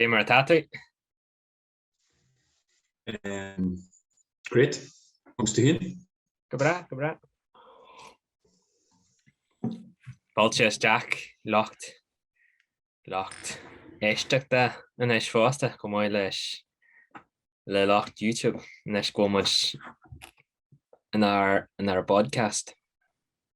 Cad é mar atá tú. Great. Agus tú féin? Go breá, go breá. Fáilte isteach, lucht, lucht éisteachta anois fosta, chomh maith leis le lucht YouTube anois go bhfuil muid inár, inár bpodcast.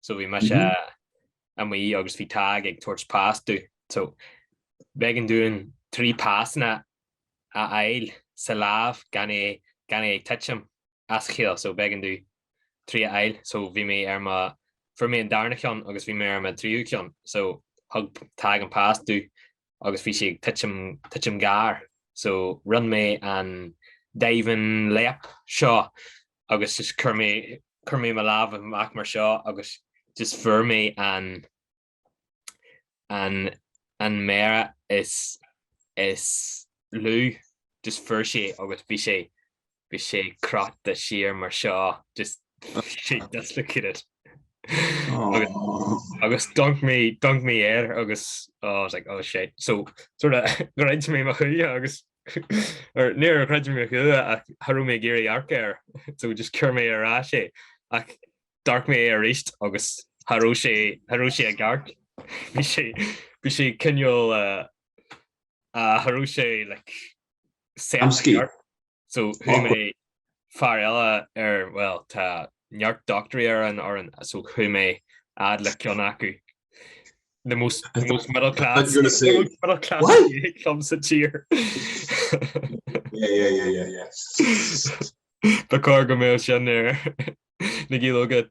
so bhí mise mm -hmm. amuigh agus bhí Tadhg ag tabhairt pas domh. So b'éigean dúinn trí pasanna a fháil sa lámh gan é gan é ag titim as a chéile so b'éigean domh trí a fháil so bhí mé ar mo fuair mé an darna ceann agus bhí mé ar an tríú ceann so thug Tadhg an pas domh agus bhí sé ag titim titim gar so rinn mé an diving leap seo agus just chuir mé chuir mé mo lámh amach mar seo agus just fuair mé an an an mhéar is is lú just fuair sé agus bhí sé bhí sé crochta siar mar seo just sé dislocated. agus d'amhanc mé d'amhanc mé air agus I was like, oh, shit so sort of, char chreid mé mo shúile agus Or, Níor chreid mé thú ach cha raibh mé ag iarraidh amharc air so just chuir mé ar ais é ach d'amharc mé arís agus cha raibh sé cha raibh sé ag amharc. Bhí sé bhí sé cineál ah cha raibh sé like Amscaí. so chuaigh mé fear eile ar, bhuel, tá neart dochtúirí ar an fhoireann, so chuaigh mé fhad le ceann acu. The most, the most middle class, the most middle class club sa tír. Yeah, yeah, yeah, yeah, yeah. Tá cá go mé sin ar na gílógad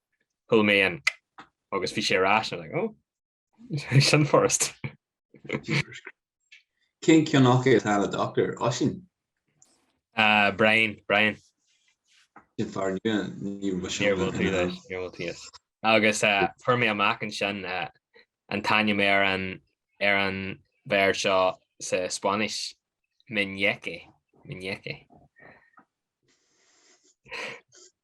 pull me in agus bhí sé ar ais like, oh sin furast. Cén ceann acu atá ina doctor, Oisín uh, Brian Brian Farr agus uh, fuair mé amach ansin uh, an t-ainm ar an ar an mhéar seo sa Spáinnis meñique meñique.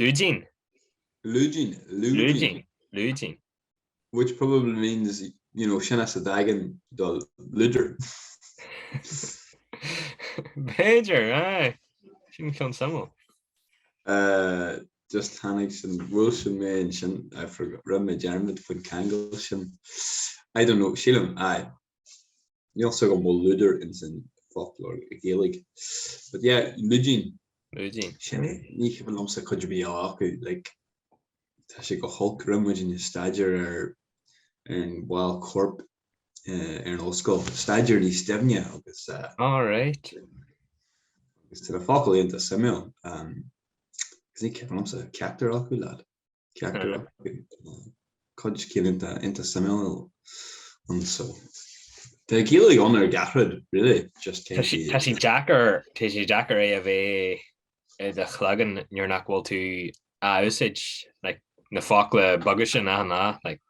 Lúidín. Lúidín, lúidín. Lúidín. Which probably means, you know, sin as a dtagann do lúdar. B'fhéidir, aye. Sin ceann suimiúil. Uh, just tháinig sin bhuel sin mé ansin I forgot rinn mé dearmad faoin cheangal sin. I don't know, sílam, aye. Níl 's agam an bhfuil lúdar ins an bhfoclóir Ghaeilge but yeah lúidín. Lúidín. Sin é, ní chuimhin liomsa cuid ar bith eile acu like tá sé go holc, rinne muidinne staidéar ar na baill coirp ar an ollscoil, staidéar níos doimhne agus eh All right. agus tá na focail iontach suimiúil, agus ní chuimhin liomsa ceachtar eile acu leaid. Ceaptar go bhfuil cuid acu iontach suimiúil anso. Tá Gaeilge ann ar gach rud, really, just cé Tá sé, tá sé deacair, tá sé deacair é a bheith i do chloigeann nuair nach bhfuil tú á úsáid, like, na focla beaga sin á ná, like.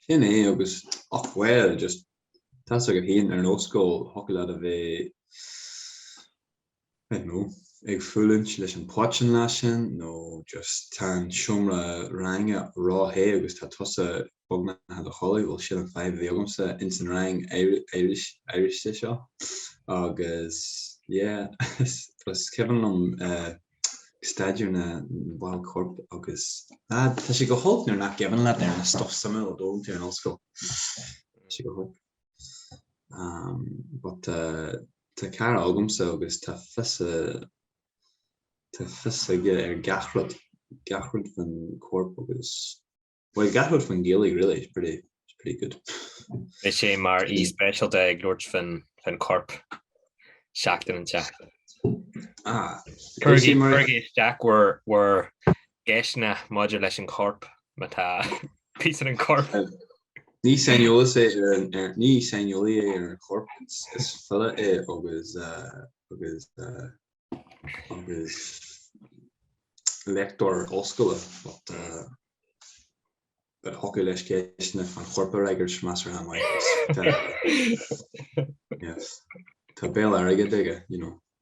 Sin é agus, ach bhuel, just, tá's agat féin ar an ollscoil, thiocfadh leat a bheith I don't know, ag fulaingt leis an póit an lá sin nó just tá an seomra ranga ró-the agus tá tusa beagnach i do chodladh, bhuel sin an fadhb a bhí agamsa ins an rang áirithe seo agus yeah is cuimhin liom ag staidéar na baill coirp agus ah tá sé go holc nuair nach gcuimhin leat ar an stuff suimiúil a d'fhoghlaim tú ar an ollscoil tá sé go holc. but tá tá cara agamsa agus tá fios tá fios aige ar gach rud, gach rud faoin corp agus bhuel gach rud faoin Ghaeilge really, he's pretty he's pretty good. Beidh sé mar aoi speisialta ag labhairt faoin faoin corp seachtain an tseachtain. Ah. Cuirigí cuirigí isteach bhur bhur gceisteanna maidir leis an chorp, má tá píosa den chorp. Ní saineolaí é ar an chorp, is file é agus léachtóir ollscoile, but thiocfadh leis ceisteanna an choirp a fhreagairt measartha maith, yes. Tá béal airgid aige, you know.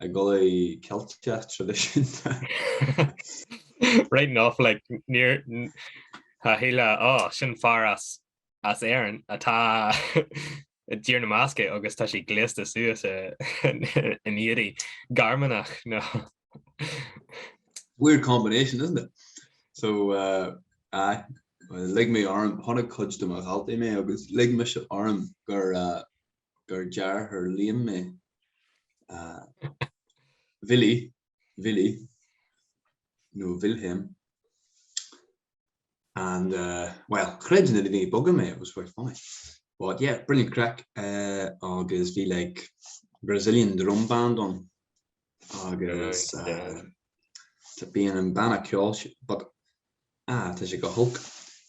I gculaith Ceilteach traidisiúnta. Right enough, like, níor, tá a chéile, oh, sin fear as, as Éirinn atá i dTír na mBascach agus tá sé gléasta suas in éadaí Gearmánach, nó. Weird combination, isn't it? So, aye, lig mé orm, chonaic cuid de mo dhaltaí mé agus lig mise orm gur, gur deartháir Liam mé. Willy, Vili, nó Wilhelm, and eh, well, chreid na daoine beaga mé, it was quite funny. But yeah, brilliant craic eh, agus bhí like Brazilian drum band ann. agus tá bíonn an banna ceoil sin but ah tá sé go holc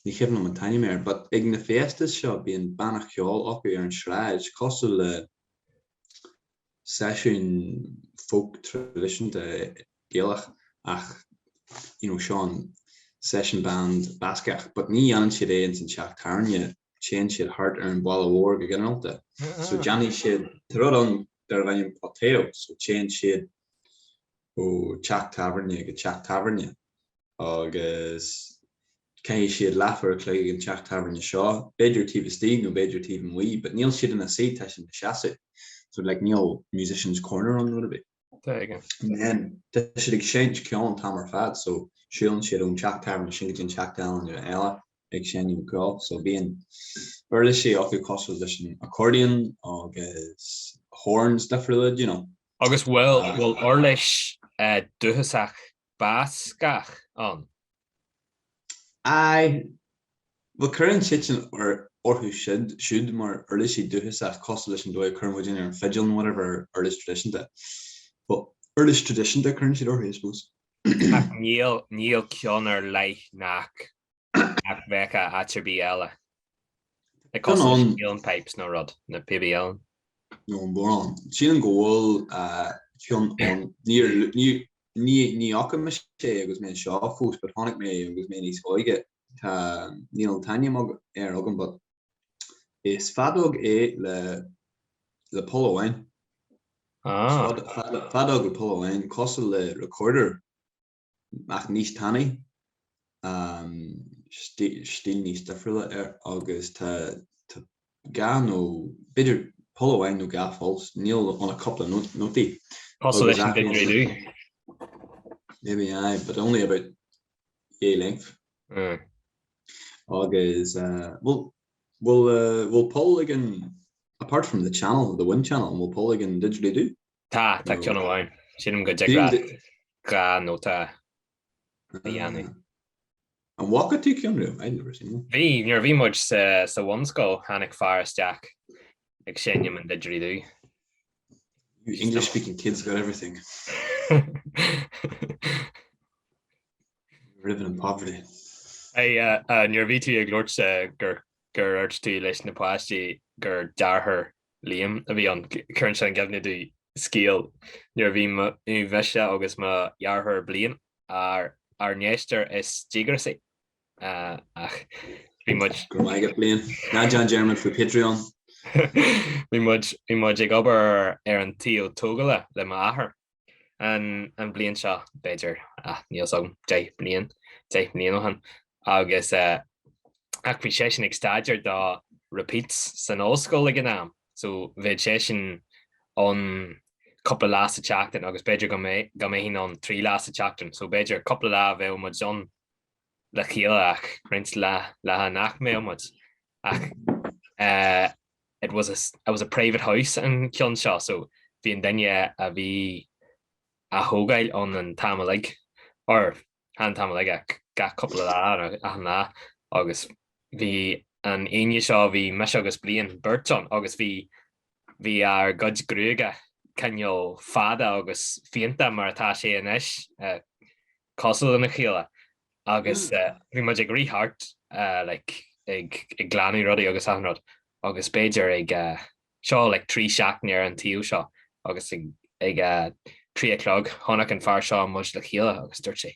ní cuimhin liom an t-ainm air but ag na fiestas seo bíonn banna ceoil acu ar an sráid cosúil le seisiún folk traidisiúnta Gaelach ach you know seisiún session band Bascach but ní dhéanann siad é ins an teach tábhairne téann siad thart ar an bhaile mhór go ginearálta so déanfaidh siad tá rud ann darb ainm Poteo so téann siad ó teach tábhairne go teach tábhairne agus caitheann siad leathuair a chloig ag an teach tábhairne seo, b'fhéidir taobh istigh nó b'fhéidir taobh amuigh but níl siad ina suí, tá siad ina seasamh so like níl musician's corner ann nó a dhath ar bith. There you go. And tá siad ag seinnt ceol an t-am ar fad so siúlann siad ón teach tábhairne sin go dtí an teach tábhairne eile. ag seinm ceoil so bíonn uirlisí acu cosúil leis an accordion agus horns difriúla, you know. Agus bhfuil bhfuil uirlis dúchasach Bascach ann? Aye. Bhuel cuireann daoine orthu siúd mar uirlisí dúchasach cosúil leis an dóigh a cuireann muidinne ar an fidil nó whatever ar uirlis traidisiúnta. Bhuel uirlis traidisiúnta a cuireann siad orthu I suppose. Ach níl níl ceann ar leith nach nach mbeadh in áit ar bith eile cosúil leis na huilleann pipes nó rud, na píobaí uilleann. nó an bodhrán. Sílim go bhfuil ceann ann. Níor, ní fhaca mise é agus mé anseo fós but chonaic mé agus mé níos óige. Tá, níl an t-ainm air agam but is feadóg é le, le poll amháin. Ah. Feadóg le poll amháin, cosúil le recorder. ach níos tanaí, stíl níos difriúla air agus tá dhá nó b'fhéidir poll amháin nó dhá pholl so níl ann ach cúpla nótaí. Cosúil leis an didgeridoo. Maybe aye, but only about yay length. Mm. Agus, uh, bhfuil, bhfuil, uh, bhfuil poll ag an, apart from the channel, the wind channel, bhfuil poll ag an didgeridoo? Tá, tá ceann amháin. Sílim go dtig dhá nóta a dhéanamh. An bhfaca tú ceann riamh? I've never seen one? Bhí, nuair a bhí muid sa, sa bhunscoil, tháinig fear isteach ag seinm an didgeridoo. You English speaking kids got everything. We're living in poverty. Hey, uh, uh, nuair a bhí tú ag labhairt eh, gur, gur dhúirt tú leis na páistí gur dearthár liom a bhí ann, cuireann sé i gcuimhne dom scéal nuair a bhí mise agus mo dheartháir Blaine ár ár n-éisteoir is díograsaí ach bhí muid. Go raibh maith agat Blaine. Ná déan dearmad faoi Patreon. Bhí muid ag obair ar an tsuíomh tógála le m'athair an bhliain seo b'fhéidir, ach níl fhios agam, deich mbliain, deich mbliain ó shin, agus ach bhí seisean ag staidéar do Repeats san ollscoil ag an am, so bheadh seisean ann cúpla lá sa tseachtain agus b'fhéidir go mbeinn ann trí lá sa tseachtain, so b'fhéidir cúpla lá a bheadh muid ann le chéile ach roinnt laetha nach mbeadh muid ach eh, it was a, it was a private house an ceann seo so bhí an duine a bhí á thógáil ann an t-am uilig or chan an t-am uilig ach gach cúpla lá nó achan lá agus bhí an Aoine seo bhí mise agus Blaine beirt ann agus bhí Bhí ár gcuid gruaige cineál fada agus fiánta mar atá sé anois, cosúil lena chéile, agus bhí muid ag rith thart like ag glanadh rudaí agus achan rud agus b'fhéidir ag, seo like trí seachtaine ar an tsuíomh seo agus ag a trí a chlog chonaic an fear seo muid le chéile agus dúirt sé.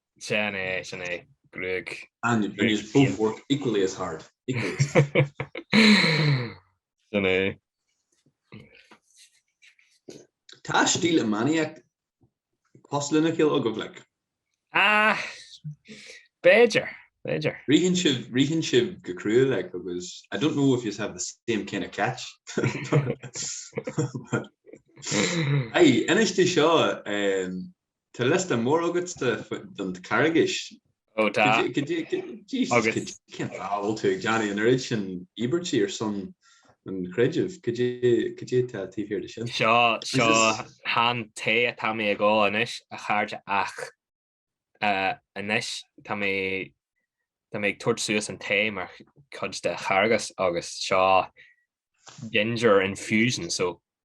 Sin é, sin é, gruag. And youse both work equally as hard. Sin é. Tá stíl iománaíocht cosúil lena chéile agaibh, like? Ah, b'fhéidir, b'fhéidir. Ritheann sibh, ritheann sibh go cruaidh, like, agus I don't know if you have the same kind of catch. Aye, inis domh seo, Tá liosta mór agat don Carghais. Ó tá. Caidé, Jesus, caidé, cén fáth a bhfuil tú ag déanamh an oiread sin íobairtí ar son an chreidimh? Caidé atá taobh thiar de sin. Seo, seo chan tae atá mé ag ól anois, a chairde ach anois tá mé, tá mé ag tabhairt suas an tae mar chuid de Charghas agus seo ginger infusion so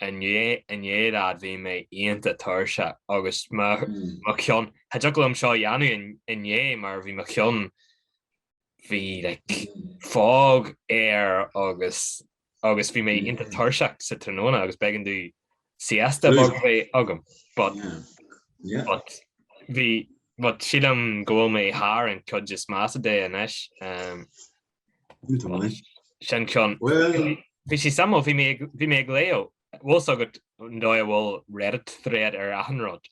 Inné inné lad bhí mé iontach tuirseach agus mo mo cheann cha dtiocfadh liom seo a dhéanamh inné mar bhí mo cheann bhí like fog air agus agus bhí mé iontach tuirseach sa tráthnóna agus b'éigean domh siesta beag a bheith agam but yeah but bhí but sílim go bhfuil mé thar an chuid is measa de anois. Sin ceann. Bhí sí samó, bhí mé ag léamh. Bhfuil fhios agat an dóigh a bhfuil Reddit thread ar achan rud?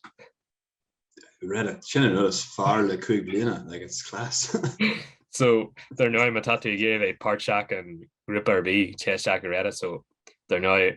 Reddit, sin an rud is fearr le cúig bliana, like it's class. So, dar ndóigh, má tá tú ag iarraidh a bheith páirteach i ngrúpa ar bith, téigh isteach ar Reddit, so, dar ndóigh,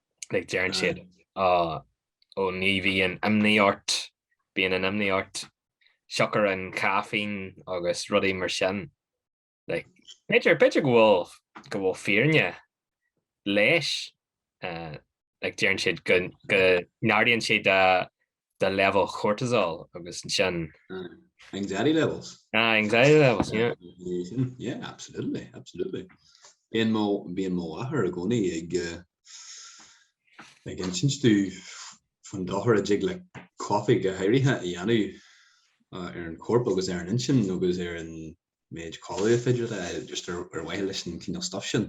Like deireann siad ah ó ní bhíonn imní ort, bíonn an imní ort, siocair an caffeine agus rudaí mar sin. Like b'fhéidir, b'fhéidir go bhfuil, go bhfuil fírinne leis, eh, like deireann siad go, go n-ardaíonn sé do, do leibhéal cortisol agus sin. Anxiety levels. Ah, anxiety levels, yeah. Yeah, absolutely, absolutely. Bíonn mo, bíonn mo athair i gcónaí ag eh, ag insint domh fán dochar a dtig le coffee go háirithe a dhéanamh eh, ar an corp agus ar an intinn agus ar an méid codladh b'fhéidir just ar mhaithe leis an cineál stuif sin.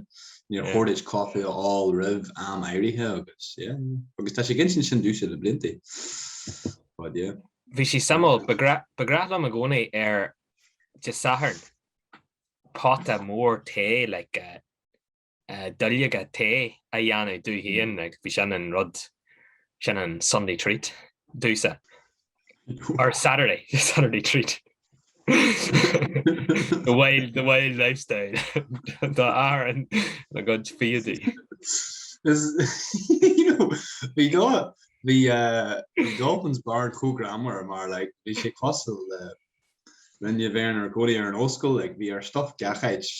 Níor chóir duit coffee a fháil roimh am áirithe agus yeah. Agus tá sé ag insint sin domhsa le blianta. But yeah. Bhí sí suimiúil. Ba ba ghnách liom i gcónaí ar Dé Sathairn pota mór tae like a duilleoga tae a dhéanamh domh féin, like, bhí sin an rud, sin an Sunday treat domhsa. Or Saturday, Saturday treat. the wild, the wild lifestyle. Dá athair an na gcuid fiadaí. Is, you know, bhí dá, bhí, uh, bhí Dolphin's Barn chomh greannmhar mar, like, bhí sé cosúil le linne bheith inár gcónaí ar an ollscoil like bhí ár stuif gach áit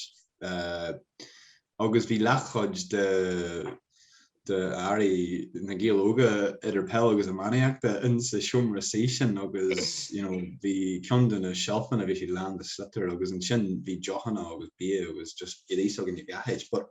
agus bhí leathchuid de d'earraí Na Gaeil Óga idir peil agus iománaíochta insa seomra suí sin agus you know bhí ceann de na seilfeanna bhí siad lán de sliotair agus ansin bhí deochanna agus bia agus just éadaí s'againne gach áit but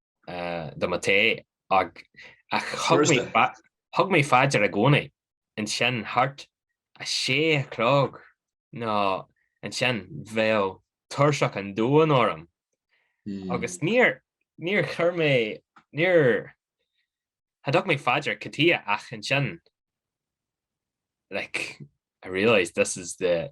do mo tae ach thug mé faoi deara i gcónaí ansin thart a sé a chlog nó ansin bheadh tuirseach an domhain orm agus níor níor chuir mé níor thug mé faoi deara cad é ach ansin like I realised this is the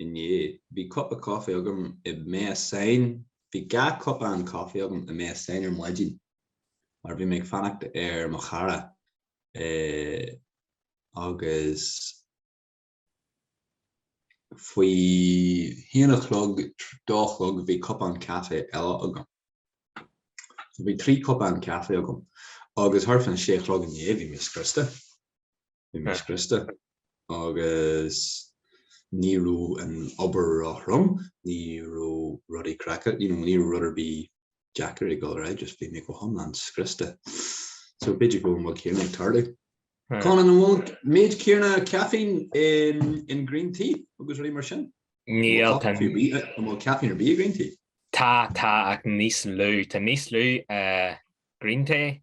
inné. Bhí cupa coffee agam i Maison. Bhí dhá cupán coffee agam i Maison ar maidin mar bhí mé ag fanacht ar mo chara agus faoi haon a chlog, dó a chlog bhí cupán caife eile agam. So bhí trí cupán caife agam agus thart fán sé a chlog inné bhí mé scriosta. bhí mé scriosta agus ní raibh an obair róthrom, ní raibh rudaí craiceáilte, you know, ní raibh rud ar bith deacair ag dul ar aghaidh, just bhí mé go hiomlán scriosta. So b'fhéidir go bhfuil céanna ag tarlú. Con an bhfuil méid céanna caffeine in, in green tea agus rudaí mar sin? Níl bhfuil caffeine ar bith green tea? Tá tá ach níos lú Tá níos lú uh, green tea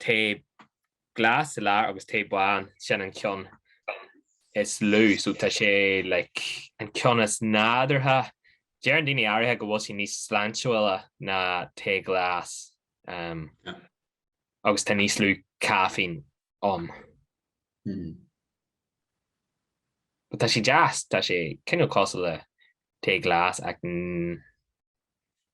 Tae glas sa lár agus tae bán, sin an ceann is lú, so tá sé like an ceann is nádúrtha. Deireann daoine áirithe go bhfuil sí níos sláintiúla ná tae glas um agus tá níos lú caifín ann. Mm. But tá sé deas, tá sé cineál cosúil le tae glas ach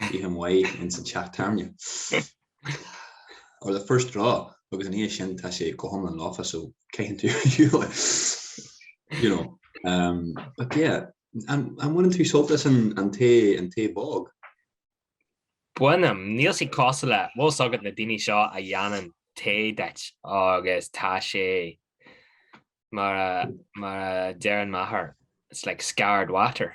Caitheann tú ar shiúl é ins an chéad tarraingt. Or the first draw agus ina dhiaidh sin tá sé go hiomlán lofa so caitheann tú ar shiúl you know um, but yeah an bhaineann tú sult as an, an tae an tae bog? Bainim, níl sé cosúil le bhfuil a fhios agat na daoine seo a dhéanann tae duit agus tá sé mar a mar a deireann m'athair it's like scarred water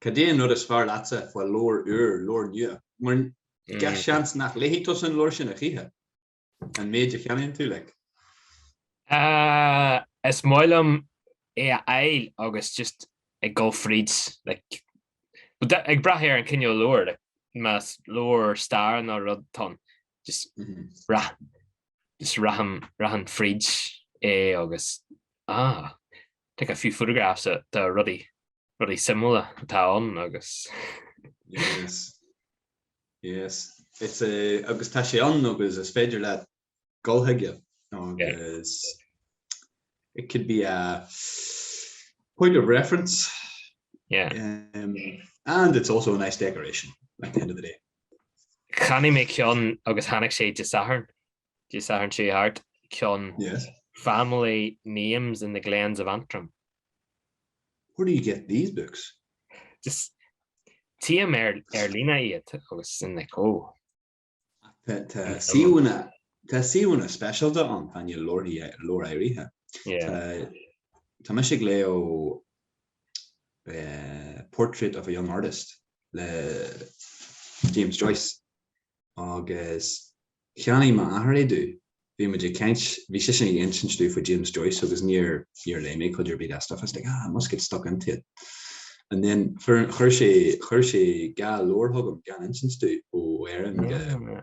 Cad é an rud is fearr leatsa fá leabhar úr, leabhar nua? Mar gach seans nach léifidh tusa an leabhar sin a choíche, an méid a cheannaíonn tú, like. Is maith liom é a fháil agus just ag dul fríd, like ag brath ar an cineál leabhair, más leabhar stair nó rud atá ann, just rach just rachainn rachainn fríd é agus ah take a few photographs ah de rudaí rudaí suimiúla atá ann agus yes yes it's a agus tá sé ann agus is féidir leat dul chuige agus yeah. it could be a point of reference yeah um, and it's also a nice decoration at the end of the day Cheannaigh mé ceann agus tháinig sé Dé Sathairn, Dé Sathairn seo thart, ceann family names in the glens of Antrim. Where do you get these books? Just tím ar ar líne iad agus in like oh. Tá suíomhanna, tá suíomhanna speisialta ann, do na leabhair leabhair áirithe. Tá mise ag léamh Portrait of a Young Artist le James Joyce agus cheannaigh m'athair é domh. Bhí muid ag caint, bhí seisean ag insint domh faoi James Joyce agus níor, níor léigh mé cuid ar bith dá stuif. I was like, ah, I must get stuck into it. And then chuir, chuir sé, chuir sé dhá leabhar chugam gan insint domh, ó Éirinn go,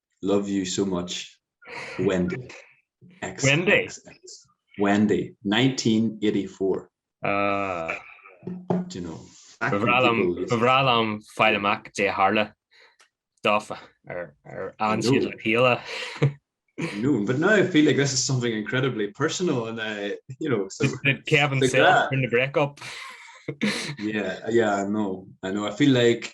Love you so much Wendy xxx Wendy 1984 Ah Do you know Ba bhreá liom, ba bhreá liom fáil amach Dé Tharla dófa ar ar an siad le píola. No, but now I feel like this is something incredibly personal and I, you know, so Did Kevin Sa gra- Sayer in the breakup? yeah, yeah, I know, I know. I feel like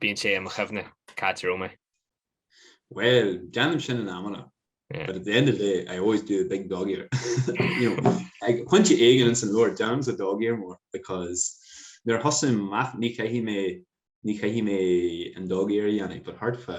Bíonn sé i mo chuimhne cá háit a raibh mé. Bhuel, déanaim sin in amanna. But at the end of the day, I always do a big dog ear. you know, ag pointe éigin ins an leabhar, déanaimse dog ear mór because nuair a thosaím amach, ní chaithfidh mé, ní chaithfidh mé an dog ear a dhéanamh but thart fá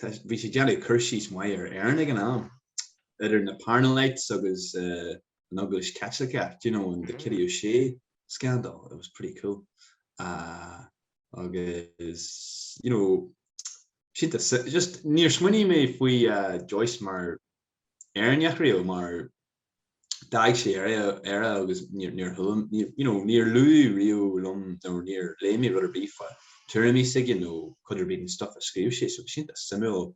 Tá, bhí sé ag déanamh cur síos maith ar Éirinn ag an am, idir na Parnellites agus an Eaglais Chaitliceach, do you know, and the Kitty O'Shea scandal, it was pretty cool. Agus, you know, sin é, just níor smaoinigh mé faoi Joyce mar Éireannach riamh, mar d'fhág sé Éire agus níor chuala mé, you know, níor luadh riamh liom nó níor léigh mé rud ar bith fá tuairimí s'aige nó cuid ar bith den stuff a scríobh sé so bhí sé iontach suimiúil,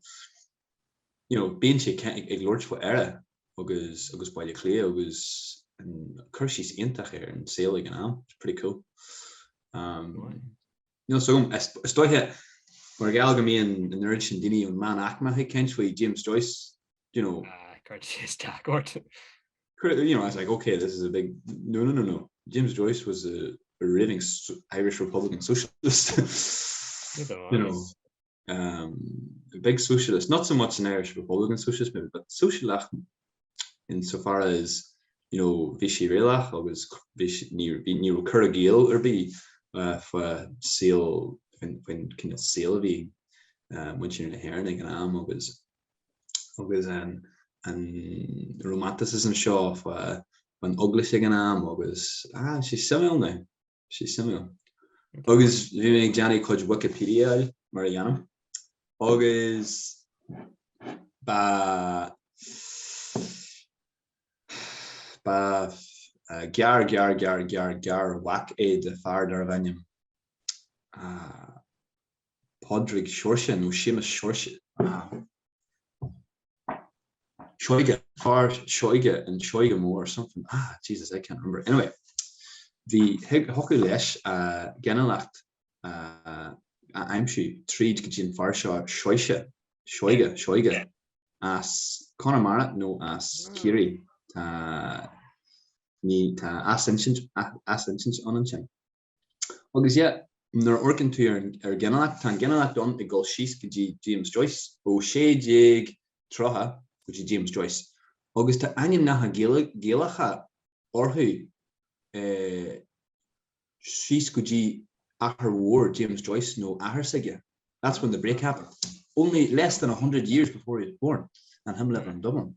you know, bíonn sé ag labhairt fá Éire agus, agus Baile Átha Cliath agus an cur síos iontach ar an saol ag an am, it's pretty cool. Umm, níl 's agam, is dóiche mar gheall go mbíonn an oiread sin daoine ón meánaicme ag caint faoi James Joyce, you know. Ah, cuireann sé isteach ort. You know, I was like, ok, this is a big, no, no, no, no, James Joyce was a raving Irish Republican socialist, you know, um, a big socialist, not so much an Irish Republican socialist maybe, but sóisialach in so far as, you know, bhí sé réalach agus ní raibh cur i gciall ar bith fa saol, faoin cineál saol a bhí ag muintir na hÉireann ag an am agus, agus an romanticism seo faoin Eaglais ag an am agus ah tá sé suimiúil now, tá sé suimiúil. Agus bhí mé ag déanamh cuid Wikipediaáil mar a dhéanaim agus ba ba gar gar gar gar garmhac é de fear darbh ainm ah Pádraig Sheóirse nó Séamus Seoirse na Seoige, Fear Seoige, an Seoige Mór something ah Jesus I can't remember anyway bhí thiocfadh leis a ghinealach a aimsiú tríd go dtí an fear seo Seoise, Seoige, Seoige as Conamara nó as Ciarraí tá tá athinsint athinsint ann ansin. Agus yeah, nuair a amharcann tú ar, ar an ghinealach, tá an ghinealach ann ag dul síos go dtí James Joyce, ó 1630 go dtí James Joyce, agus tá ainmneacha Gaeilge, Gaelacha orthu eh síos go dtí athair mhór James Joyce nó athair s'aige, that's when the break happened, only less than a hundred years before he was born, an him living in Dublin.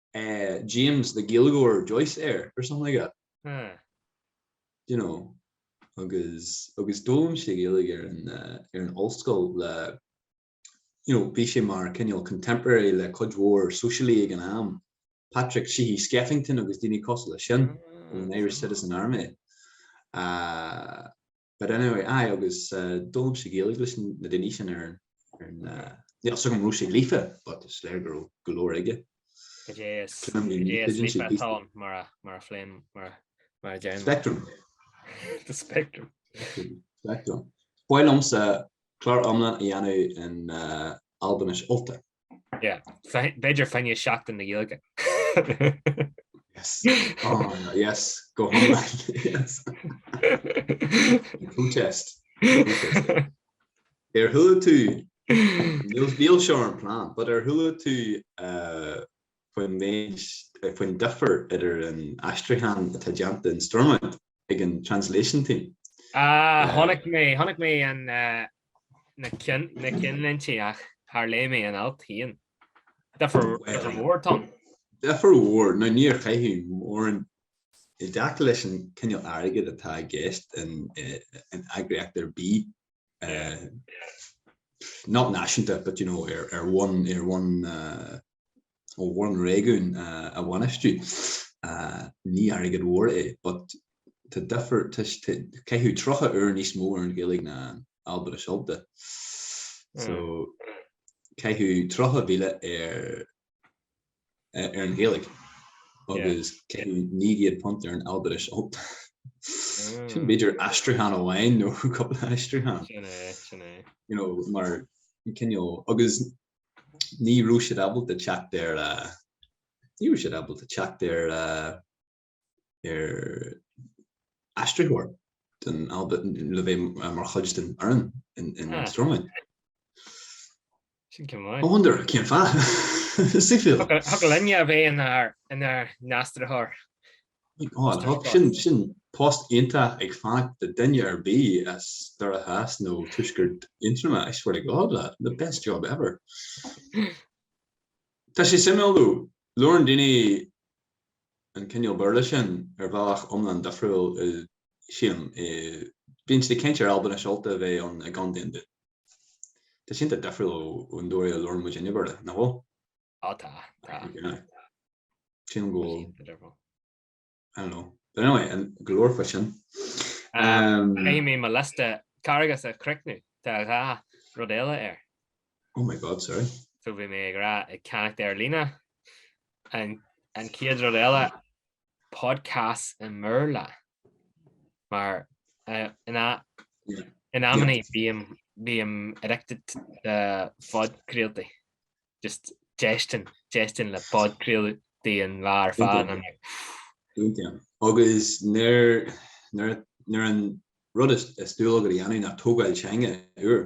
eh, James the Gaeilgeoir Joyce air or something like that. Hmm. Do you know? Agus, agus d'fhoghlaim sé Gaeilge ar an, eh, ar an ollscoil le, you know, bhí sé mar cineál contemporary le cuid mhór sóisialaigh ag an am, Patrick Sheehy Skeffington agus daoine cosúil leis sin, an Irish Citizen Army. Ah, But anyway, aye agus d'fhoghlaim sé Gaeilge leis na daoine sin ar an, níl 's agam an raibh sé líofa but is léir go raibh go leor aige. Cad é is líofa atá ann mar a phléim, mar a deirim? Spectrum. The spectrum. Spectrum. B'áil liomsa clár iomlán a dhéanamh in Albainis Ultach. B'fhéidir fá choinne Seachtain na Gaeilge. Yes. Oh, no, yes. Go Protest. Ar chuala tú, níl seo ar an plan, but ar chuala tú uh, faoin méid, faoin difear idir an aistriúchán atá déanta in Stormont ag an Translation Team. Ah, chonaic mé, chonaic mé an, na cinnlínte ach char léigh mé an alt féin. Difear, difear mhór, Tom. Difear mhór. Now níor caitheadh mórán, i dtaca leis an cineál airgid atá i gceist in eagraíocht ar bith, not náisiúnta but you know ar, ar bhonn, ar bhonn, uh, ó bhonn réigiún uh, a bhainistiú. Uh, ní airgead mhór é but tá difear, tá, caitheadh 30 uair níos mó ar an Ghaeilge ná an Albainis Ultach. So, caitheadh 30,000 ar ar an Ghaeilge agus £900 ar an Albainis Ultach. Sin b'fhéidir aistriúchán amháin nó cúpla aistriúchán. Sin é, sin é. You know, mar cineál, agus ní raibh siad ábalta teacht ar, ní raibh siad ábalta teacht ar, ar aistritheoir den Alba le bheith mar chuid den fhoireann in Stormont. Sin cén fáth? I wonder, cén fáth? Suimiúil. Thiocfadh linne a bheith inár n-aistritheoir. My God, sin post iontach ag fanacht do duine ar bith as Doire Theas nó Tuaisceart Aontroma, I swear to God lad, the best job ever. Tá sé suimiúil, labhrann daoine an cineál Béarla sin ar bhealach iomlán difriúil ansin. Bíonn siad ag caint ar Albainis Ultach a bheith ann i gContae an Dúin. Tá sé iontach difriúil ó an dóigh a labhrann muidinne Béarla, nach bhfuil? Á tá, tá. Sílim go bhfuil. Tá sé iontach difriúil. I don't know. But anyway, go leor faoi sin. Caithfidh mé mo liosta Carghais a chríochnú, tá dhá rud eile air. Oh my God, sorry. So bhí mé ag rá ag ceannacht ar líne an an chéad rud eile podcasts i mBéarla mar in in amannaí bím bím addicted le podchraoltaí just éisteacht éisteacht le podchraoltaí an lá ar fad an agus nuair nuair an rud is dual agat a dhéanamh ná tógáil teanga úr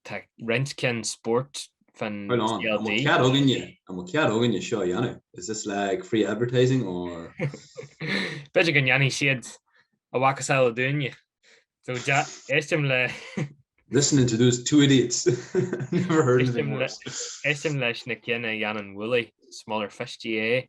Tá roinnt cinn spóirt fán CLG. An bhfuil cead againne seo a dhéanamh? Is this like free advertising or? B'fhéidir go ndéanfaidh siad a mhacasamhail dúinne. So éistim le. Listening to those two idiots. Never heard anything worse. Éistim leis na cinn a dhéanann Wooly, Smaller Fish GAA.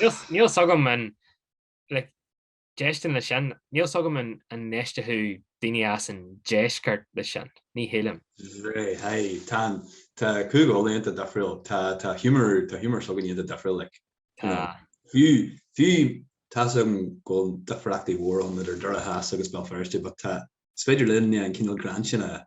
Níl fhios agam an éisteann leis sin. Níl fhios agam an n-éisteodh daoine as an deisceart leis sin. Ní shílim. Right, hey, tá an, tá Gúgal iontach difriúil. Tá, tá humour, tá humour s'againn iontach difriúil, like. Tá. Fiú, fiú, tá fhios agam go bhfuil difríochtaí móra ann idir Doire Theas agus Béal Feirste but tá, is féidir linn an cineál greann sin a.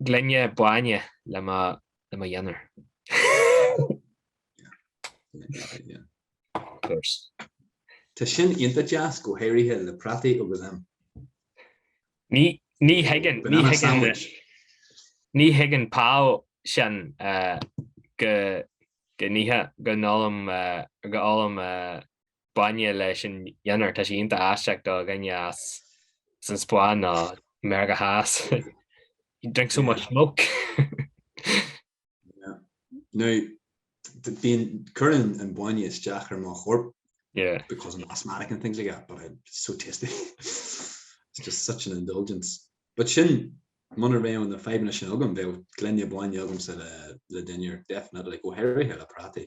gloine bainne le mo dhinnéar. Tá sin iontach deas, go háirithe le prátaí agus ham. Ní thuigeann, ní thuigeann, ní thuigeann Pau sin go go n-ithe, go n-ólaim, go n-ólaim bainne leis an dinnéar, tá sé iontach aisteach do dhuine as an Spáinn nó Meiriceá Theas. You drink so much milk. Now, bíonn cuireann an bainne isteach ar mo chorp. Yeah. Because I'm asthmatic and things like that, but it's so tasty. It's just such an indulgence. But sin, muna raibh na fadhbanna sin agam, bheadh gloine bainne agamsa le dinnéar, definitely, go háirithe le prátaí.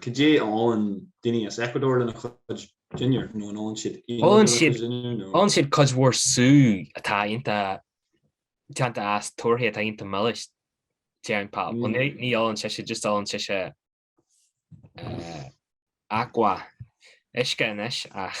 Cad é a ólann daoine as Ecuador lena gcuid dinnéar, nó an ólann siad aon rud lena gcuid dinnéar? Ólann siad cuid mhór sú atá iontach déanta as torthaí atá iontach milis, déarfainn Pau. Bhuel, ní ólann sise, just ólann sise agua, uisce anois, ach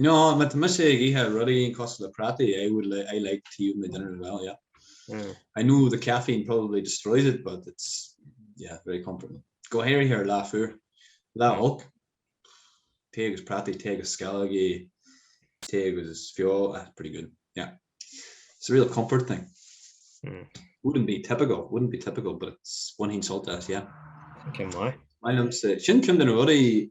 Nó má tá mise ag ithe rudaí aon cosúil le prátaí I would like, I like tea with my dinner as well, yeah. I know the caffeine probably destroys it but it's, yeah, very comforting. Go háirithe ar lá fuar, lá olc, tae agus prátaí, tae agus sceallógaí, tae agus feoil, ah, pretty good, yeah. It's a real comfort thing. Wouldn't be typical, wouldn't be typical but it's bainim sult as, yeah. Ceann maith? Maith liomsa, sin ceann de na rudaí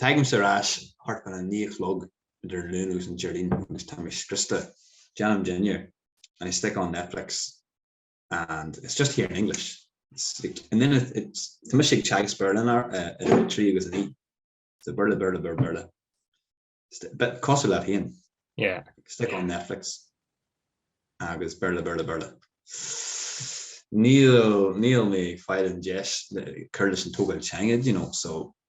Tagaimse ar ais thart fá na naoi a chlog idir an Luan agus an Déardaoin agus tá mé scriosta. Déanaim dinnéar and I stick on Netflix and it's just here in English. It's like and then tá mise ag teagasc Béarla in ar- idir a trí agus a naoi. So Béarla, Béarla, Béarla, Béarla. But cosúil leat féin, Yeah. stick on Netflix agus Béarla, Béarla, Béarla. Níl, níl mé ag fáil an deis le cur leis an tógáil teanga, you know, so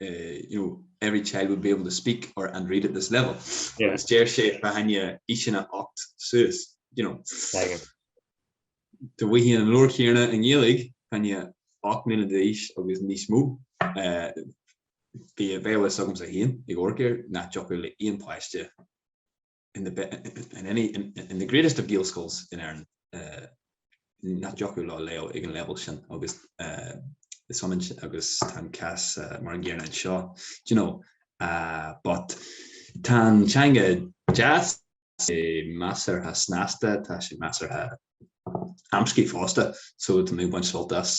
you know, every child would be able to speak or and read at this level. Yeah. Agus deir sé b'fhéidir aoiseanna ocht suas, you know. Dá bhfaighfeá an leabhar céanna i nGaeilge b'fhéidir ocht mbliana d'aois agus níos mó. Eh, bhí a fhios agamsa féin ag amharc air nach dtiocfadh le aon páiste in any in the greatest of Gaelscoils in Éirinn nach dtiocfadh leo léamh ag an leibhéal sin agus is ionann sin agus tá an cás mar an gcéanna anseo you know but tá an teanga deas tá sé measartha snasta tá sé measartha amscaí fosta so tá mé ag baint sult as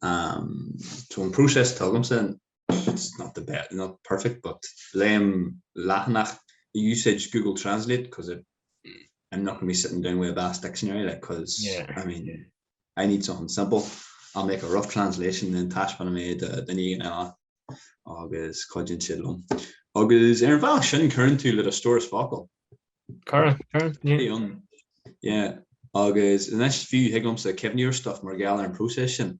so an próiseas atá agamsa it's not the best, not perfect but léim leathanach ag úsáid Google Translate because I'm not going to be sitting down with a vast dictionary because yeah. I mean I need something simple I'll make a rough translation then taispeanfaidh mé do duine éigin eile agus cuideann siad liom. Agus ar an bhealach sin cuireann tú le do stóras focal. Cuireann, cuireann, yeah. Yeah, agus anois fiú thig liomsa cuimhneamh ar stuff mar gheall ar an próiseas sin.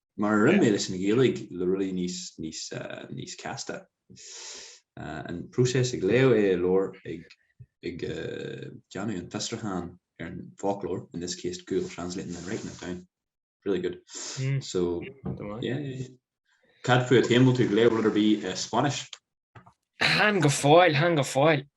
Mar a rinne mé leis an Ghaeilge le rudaí níos casta. An process ag léamh é i leabhar, ag déanamh an fiosrúchán ar an bhfoclóir, in this case Google Translating then writing it down. Really good. So, yeah. Cad fút féin, an bhfuil tú ag léamh rud ar bith i Spanish? Chan go fóill, chan go fóill.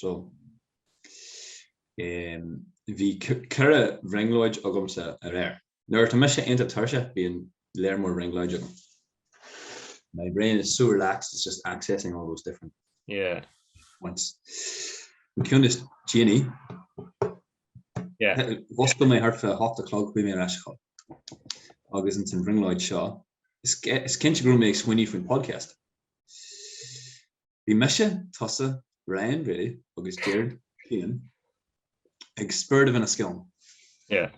So, ehm, bhí ceithre bhrionglóid agamsa aréir. Nuair atá mise iontach tuirseach bíonn lear mór brionglóidí agam. My brain is so relaxed it's just accessing all those different Yeah. points. An ceann is déanaí, Yeah. mhuscail mé thart fá hocht a chlog chuaigh mé ar ais a chodladh. Agus ins an bhrionglóid seo, is, is cinnte go raibh mé ag smaoineamh faoin podcast. Bhí mise, tusa, Ryan Brady agus Gerard Keane ag spiorad a bheith 'na sceon. Yeah.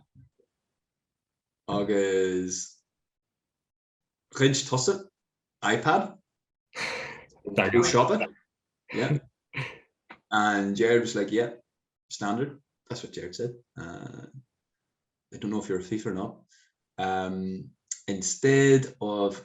Agus ghoid tusa iPad Dar go siopa. Yeah. And Gerard was like, yeah, standard. That's what Gerard said. Uh, I don't know if you're a thief or not. Um, instead of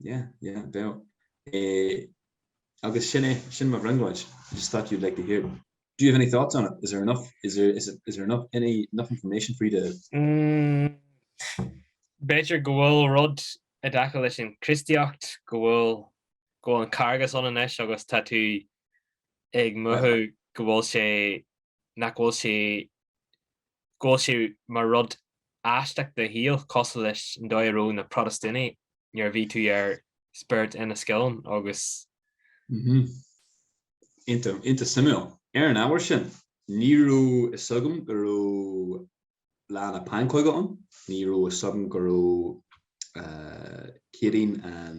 Yeah, yeah, bheadh. Eh, agus sin é, sin mo bhrionglóid. I just thought you'd like to hear them. Do you have any thoughts on it? Is there enough, is there, is, is there enough, any, enough information for you to... Mm, b'fhéidir go bhfuil rud i dtaca leis an Chríostaíocht, go bhfuil, go bhfuil an Carghas ann anois agus tá tú ag mothú go bhfuil sé nach bhfuil sé go bhfuil sé mar rud aisteach i do shaol cosúil leis an dóigh a raibh na Protastúnaigh nuair a bhí tú ar Spirit of Enniskillen agus. Iontach, iontach suimiúil. Ar an ábhar sin, ní raibh fhios agam go raibh Lá na Pancóige ann, ní raibh fhios agam go raibh Céadaoin an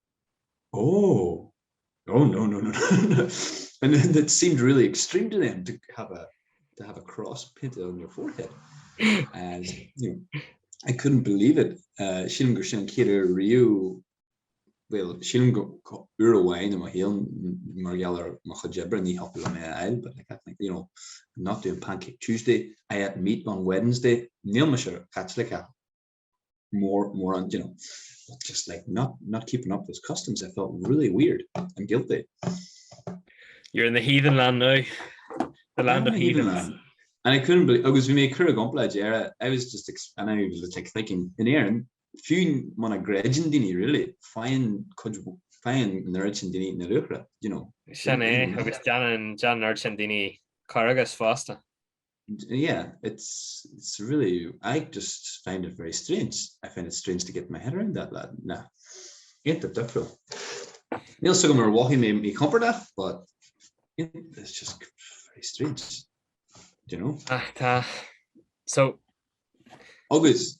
Oh! Oh no no no no and then that seemed really extreme to them to have a to have a cross painted on your forehead and you know I couldn't believe it uh, sílim gur sin an chéad uair riú well sílim go uair amháin am a shaol mar gheall ar mo chuid oibre ní thiocfadh liom é a fháil but like I think you know I'm not doing pancake Tuesday I ate meat on Wednesday níl mise Caitliceach níos mó you know but just like not not keeping up those customs I felt really weird and guilty. You're in the heathen land now. The land of heathens. And I couldn't believe agus bhí mé ag cur i gcomparáid le hÉirinn I was just and I was like thinking in Éirinn fiú muna gcreideann daoine really faigheann cuid faigheann neart sean daoine na luaithreach you know. Sin é agus déanann déanann neart sean daoine Carghas fosta. Yeah it's it's really I just find it very strange I find it strange to get my head around that lad na iontach difriúil níl suim mar mhothaigh mé mí compordach but it's just very strange do you know ach tá so agus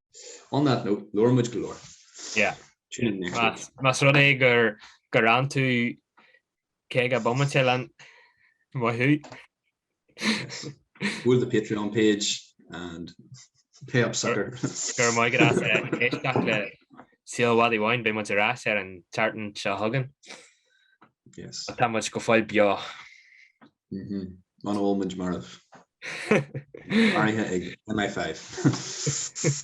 On that note, labhair muid go leor. Yeah. Tune in next week. Más rud é gur gur fhan tú cúig bomaite linn wahoo. Yes. Go to the Patreon page and pay up sucker. Go raibh maith agat as éisteacht le Saol an Mhadaidh Bháin beidh muid ar ais ar an tseachtain seo chugainn. Yes. Tá muid go fóill beo. Mhm. Muna bhfuil muid marbh. Maraithe ag MI5.